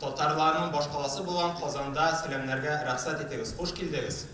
Татарларның башкаласы булган Казанда сәламнәргә рәхсәт итегез. Хуш килдегез!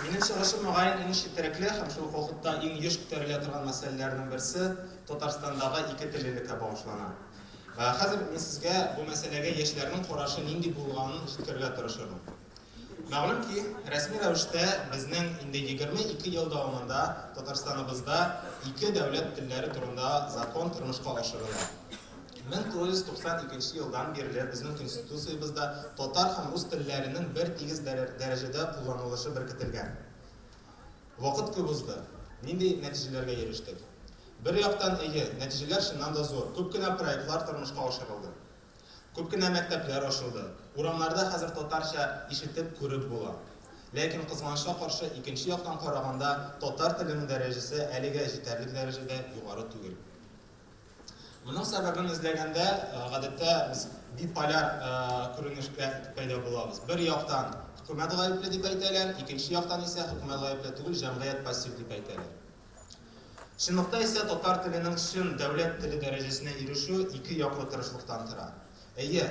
Минем чыгышым, мөгаен, иң четерекле һәм шул ук вакытта иң еш күтәрелә торган мәсьәләләрнең берсе, Татарстандагы ике теллелеккә багышлана. Хәзер мин сезгә бу мәсьәләгә яшьләрнең карашы нинди булганын җиткерергә тырышырмын. Мәгълүм ки, рәсми рәвештә безнең инде 22 ел дәвамында Татарстаныбызда ике дәүләт телләре турында закон тормышка ашырыла. 1992 нче елдан бирле безнең Конституциябездә татар һәм рус телләренең бертигез дәрәҗәдә кулланылышы беркетелгән. Вакыт күп узды. Нинди нәтиҗәләргә ирештек? Бер яктан, әйе, нәтиҗәләр чыннан да зур, күп кенә проектлар тормышка ашырылды. Күп кенә мәктәпләр ачылды, урамнарда хәзер татарча ишетеп, күреп була. Ләкин, кызганычка каршы, икенче яктан караганда, татар теленең дәрәҗәсе әлегә җитәрлек дәрәҗәдә югары түгел. Моның сәбәбен эзләгәндә, гадәттә, без биполяр күренешкә пәйда булабыз. Бер яктан, хөкүмәт гаепле дип әйтәләр, икенче яктан исә, хөкүмәт гаепле түгел, җәмгыять пассив дип әйтәләр. Чынлыкта исә татар теленең чын дәүләт теле дәрәҗәсенә ирешү ике яклы тырышлыктан тора. Әйе,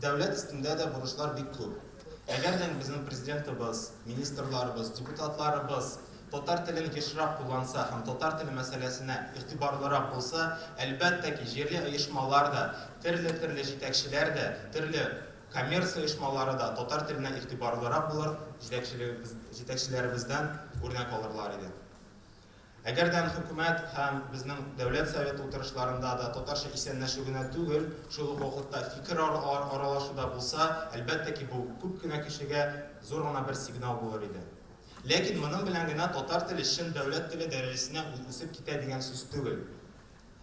дәүләт өстендә дә бурычлар бик күп. Әгәр дә безнең президентыбыз, министрларыбыз, депутатларыбыз татар телен ешрак кулланса һәм татар теле мәсьәләсенә игътибарлырак булса, әлбәттә ки, җирле оешмалар да, терле-терле җитәкчеләр дә, терле Коммерция оешмалары да татар теленә игътибарлырак булыр, җитәкчелегебез, җитәкчеләребездән үрнәк алырлар иде. Әгәр дә Хөкүмәт һәм безнең Дәүләт Советы утырышларында да татарча исәнләшү генә түгел, шул ук вакытта фикер аралашу да булса, әлбәттә ки, бу күп кенә кешегә зур гына бер сигнал булыр иде. Ләкин моның белән генә татар теле чын дәүләт теле дәрәҗәсенә үсеп китә дигән сүз түгел.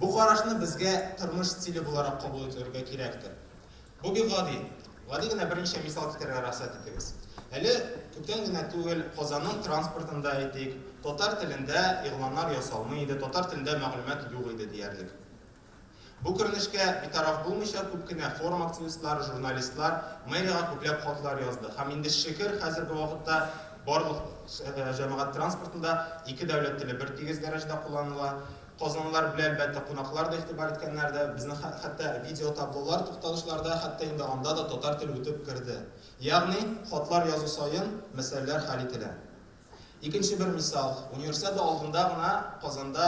Бу карашны безгә тормыш стиле буларак кабул ителергә кирәктер. Бу бик гади. Гади генә берничә мисал китерергә рөхсәт итегез. Әле күптән генә түгел Казанның транспортында, әйтик, татар телендә игъланнар ясалмый иде, татар телендә мәгълүмат юк иде диярлек. Бу күренешкә битараф булмыйча, күп кенә форум активистлары, журналистлар мэриягә күпләп хатлар язды. Һәм инде шөкер, хәзерге вакытта Барлык җәмәгать транспортында ике дәүләт теле бертигез дәрәҗәдә кулланыла. Казанлылар белән, әлбәттә, кунаклар да игътибар иткәннәр дә. Безнең хәтта видеотаблолар, тукталышларда, хәтта инде анда да татар теле үтеп керде. Ягъни, хатлар язу саен мәсьәләләр хәл ителә. Икенче бер мисал, Универсиада алдында гына Казанда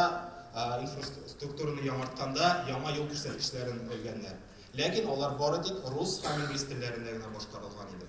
инфраструктураны яңартканда яңа юл күрсәткечләрен элгәннәр. Ләкин алар бары тик рус һәм инглиз телләрендә генә башкарылган иде.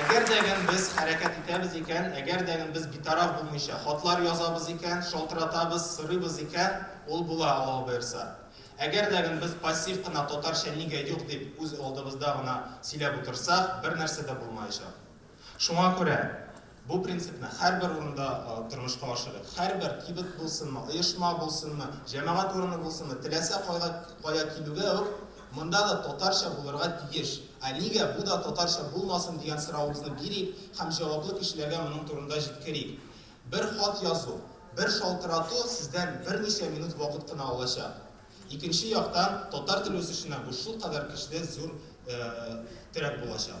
Әгәр дә гән без хәрәкәт итәбез икән, әгәр дә гән без битараф булмыйча хатлар язабыз икән, шалтыратабыз, сорыйбыз икән, ул була, Аллаһу боерса. Әгәр дә гән без пассив кына татарча нигә юк дип үз алдыбызда гына сөйләп утырсак, бернәрсә дә булмаячак. Шуңа күрә бу принципны һәрбер урында тормышка ашырыйк. Һәрбер кибет булсынмы, оешма булсынмы, җәмәгать урыны булсынмы, теләсә кайга кая килүгә үк, монда да татарча булырга тиеш. Ә нигә бу да татарча булмасын дигән соравыбызны бирик һәм җаваплы кешеләргә моның турында җиткерик. Бер хат язу, бер шалтырату сездән берничә минут вакыт кына алачак. Икенче яктан, татар теле үсешенә бу шулкадәр көчле, зур терәк булачак.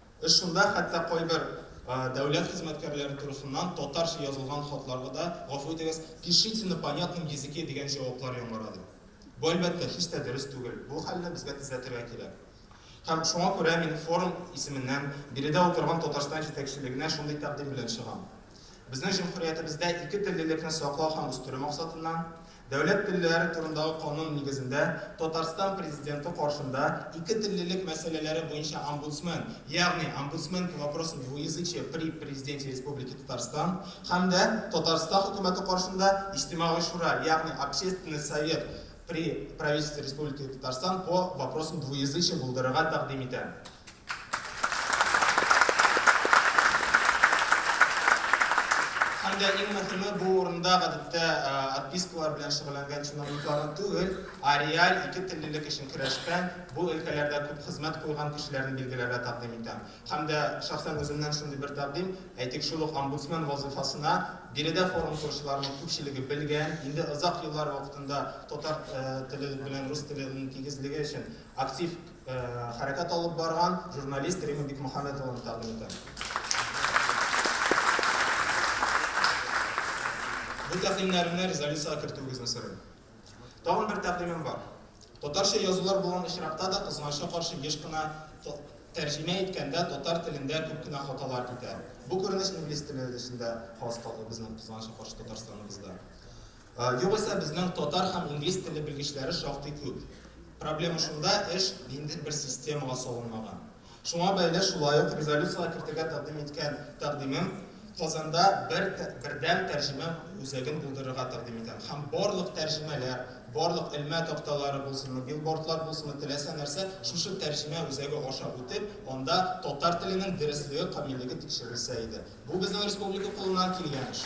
Эш шунда, хәтта кайбер дәүләт хезмәткәрләре турысыннан татарча язылган хатларга да, гафу итегез, пишите на понятном языке дигән җаваплар яңгырады. Бу, әлбәттә, һич тә дөрес түгел. Бу хәлне безгә төзәтергә кирәк. Һәм шуңа күрә мин форум исеменнән биредә утырган Татарстан җитәкчелегенә шундый тәкъдим белән чыгам. Безнең җөмһүриятебездә ике теллелекне саклау һәм үстерү максатыннан, Дәүләт телләре турындагы канун нигезендә Татарстан Президенты каршында ике теллелек мәсьәләләре буенча омбудсмен, ягъни Омбудсмен по вопросам двуязычия при Президенте Республики Татарстан, һәм дә Татарстан Хөкүмәте каршында Иҗтимагый шура, ягъни Общественный совет при Правительстве Республики Татарстан по вопросам двуязычия булдырырга тәкъдим итәм. Һәм дә иң мөхиме, бу урында гадәттә отпискалар белән шөгыльләнгән чиновникларны түгел, ә реаль ике теллелек өчен көрәшкән, бу өлкәләрдә күп хезмәт куйган кешеләрне билгеләргә тәкъдим итәм. Һәм дә шәхсән үземнән шундый бер тәкъдим, әйтик, шул ук омбудсмен вазыйфасына биредә форум коручыларның күпчелеге белгән, инде озак еллар вакытында татар теле белән рус теле-ның тигезлеге өчен актив хәрәкәт алып барган журналист Рима Бикмөхәммәтованы тәкъдим итәм. Бу тәкъдимнәрне резолюциягә кертүегезне сорыйм. Тагын бер тәкъдимем бар. Татарча язулар булган очракта да кызганычка каршы еш кына тәрҗемә иткәндә татар телендә күп кенә хаталар китә. Бу күренеш инглиз теле эчендә хас калды безнең кызганычка каршы Татарстаныбызда. Югыйсә безнең татар һәм инглиз теле белгечләре шактый күп. Проблема шунда, эш нинди бер системага салынмаган. Шуңа бәйле шулай ук резолюциягә кертергә тәкъдим иткән тәкъдимем, Казанда бер бердәм тәрҗемә үзәген булдырырга тәкъдим итәм һәм барлык тәрҗемәләр, барлык элмә такталары булсынмы, билбордлар булсынмы, теләсә нәрсә шушы тәрҗемә үзәге аша үтеп, анда татар теленең дөреслеге, камиллеге тикшерелсә иде. Бу безнең республика кулыннан килгән эш.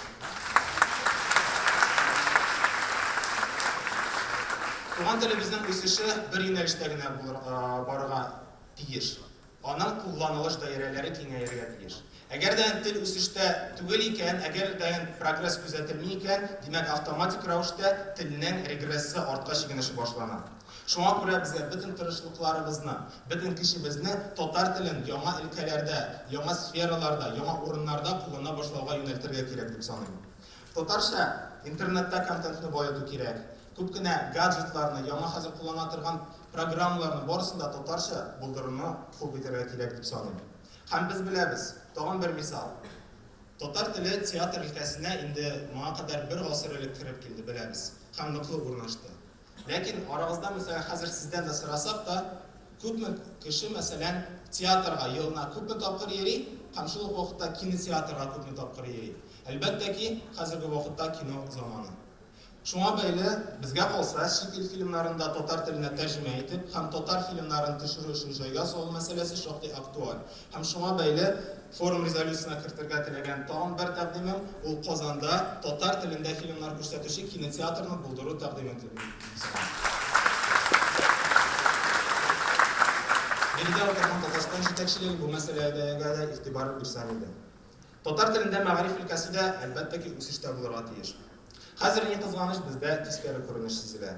Туган телебезнең үсеше бер юнәлештә генә барырга тиеш. Аның кулланылыш даирәләре киңәяргә тиеш. Әгәр дә тел үсештә түгел икән, әгәр дә прогресс күзәтелми икән, димәк, автоматик рәвештә телнең регрессы, артка чигенеше башлана. Шуңа күрә безгә бөтен тырышлыкларыбызны, бөтен көчебезне татар телен яңа өлкәләрдә, яңа сфераларда, яңа урыннарда куллана башлауга юнәлтергә кирәк дип саныйм. Татарча интернетта контентны баету кирәк. Күп кенә гаджетларны, яңа хәзер куллана торган программаларны барысын да татарча булдыруны хуп итәргә кирәк дип саныйм. Һәм без беләбез, тагын бер мисал, татар теле театр өлкәсенә инде моңа кадәр бер гасыр элек кереп килде, беләбез, һәм ныклы урнашты. Ләкин арагызда, мәсәлән, хәзер сездән дә сорасак та, күпме кеше, мәсәлән, театрга елына күпме тапкыр йөри һәм шул ук вакытта кинотеатрга күпме тапкыр йөри? Әлбәттә ки, хәзерге вакытта кино заманы. Шуңа бәйле, безгә калса, чит ил фильмнарын да татар теленә тәрҗемә итеп һәм татар фильмнарын төшерү өчен җайга салу мәсьәләсе шактый актуаль. Һәм шуңа бәйле форум резолюциясенә кертергә теләгән тагын бер тәкъдимем, ул Казанда татар телендә фильмнар күрсәтүче кинотеатрны булдыру тәкъдим ителде. Биредә утырган Татарстан җитәкчелеге бу мәсьәләгә дә игътибар бирсә иде. Татар телендә мәгариф өлкәсе дә, әлбәттә ки, үсештә булырга тиеш. Хәзер, ни кызганыч, бездә тискәре күренеш сизелә.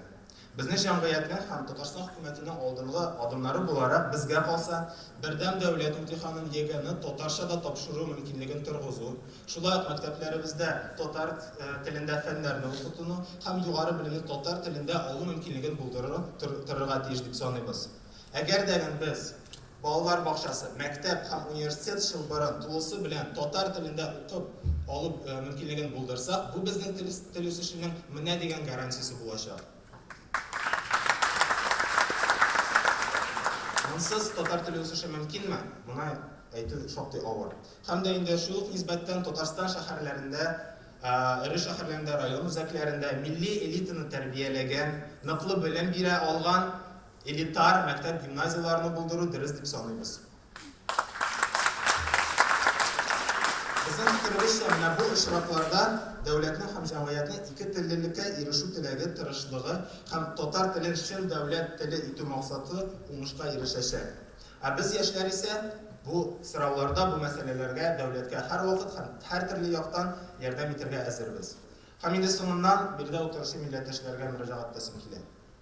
Безнең җәмгыятьнең һәм Татарстан хөкүмәтенең алдынгы адымнары буларак, безгә калса, бердәм дәүләт имтиханын егерме татарча да тапшыру мөмкинлеген торгызу, шулай ук мәктәпләребездә татар телендә фәннәрне укытуны һәм югары белемне татар телендә алу мөмкинлеген булдыру торырга тиеш дип саныйбыз. Әгәр дә гын без балалар бакчасы, мәктәп һәм университет чылбырын тулысы белән татар телендә укып алу мөмкинлеген булдырсак, бу безнең тел тел үсешенең менә дигән гарантиясе булачак. Монсыз татар теле үсеше мөмкинме? Моны әйтү шактый авыр. Һәм дә инде шул ук нисбәттән Татарстан шәһәрләрендә эре шәһәрләрендә, район үзәкләрендә милли элитаны тәрбияләгән, ныклы белем бирә алган Элитар мәктәп-гимназияләрне булдыру дөрес дип саныйбыз. Безнең фикеребезчә, менә бу очракларда дәүләтнең һәм җәмгыятьнең ике теллелеккә ирешү теләге, тырышлыгы һәм татар телен чын дәүләт теле итү максаты уңышка ирешәчәк. Ә без, яшьләр исә, бу сорауларда, бу мәсьәләләргә дәүләткә һәрвакыт һәм һәртөрле яктан ярдәм итәргә әзербез. Һәм инде соңыннан, биредә утыручы милләттәшләргә мөрәҗәгать итәсем килә.